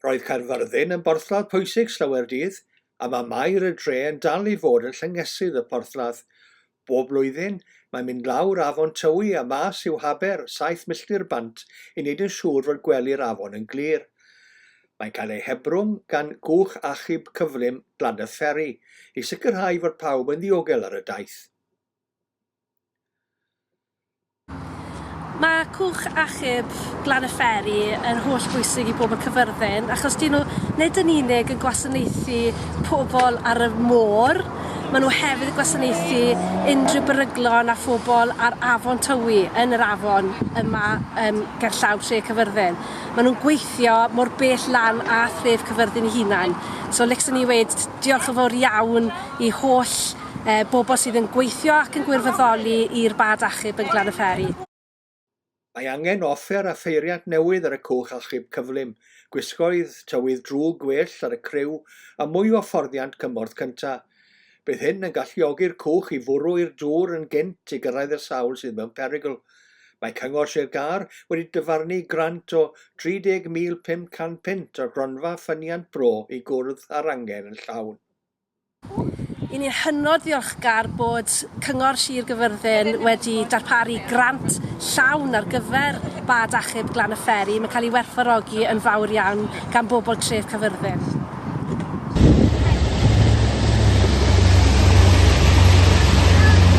Roedd Caerfyrddin yn borthladd pwysig Llywerdydd a mae Maer y Dre yn dal i fod yn llyngesydd y porthladd. Bob blwyddyn, mae'n mynd lawr afon Tywi a mas i'w haber, saith milltir bant, i wneud yn siŵr fod gwely'r afon yn glir. Mae'n cael ei hebrwng gan gwch achub cyflym Glannerferry i sicrhau fod pawb yn ddiogel ar y daith. Mae cwch achub Glan-y-fferi yn holl bwysig i bobl Cyfyrddin achos dyn nhw nid yn unig yn gwasanaethu pobl ar y môr, maen nhw hefyd yn gwasanaethu unrhyw beryglon a phobl ar Afon Tywi, yn yr afon yma um, gerllaw Tre Cyfyrddin. Maen nhw'n gweithio mor bell lan a thref Cyfyrddin ei hunan. So, licsen i wedi diolch yn fawr iawn i holl e, bobl sydd yn gweithio ac yn gwirfoddoli i'r bad achub yn Glanyfferi. Mae angen offer a pheiriant newydd ar y cwch achub cyflym, gwisgoedd, tywydd drwg gwell ar y criw a mwy o fforddiant cymorth cyntaf. Bydd hyn yn galluogi'r cwch i fwrw i'r dŵr yn gynt i gyrraedd y sawl sydd mewn perygl. Mae Cyngor Sir Gâr wedi dyfarnu grant o £30,500 o'r Gronfa Ffyniant Bro i gwrdd â'r angen yn llawn. Yn ni'n hynod ddiolchgar bod Cyngor Sir Gyfyrddin wedi darparu grant llawn ar gyfer bad achub Glan y Fferi. Mae'n cael ei werthfawrogi yn fawr iawn gan bobl tref Caerfyrddin.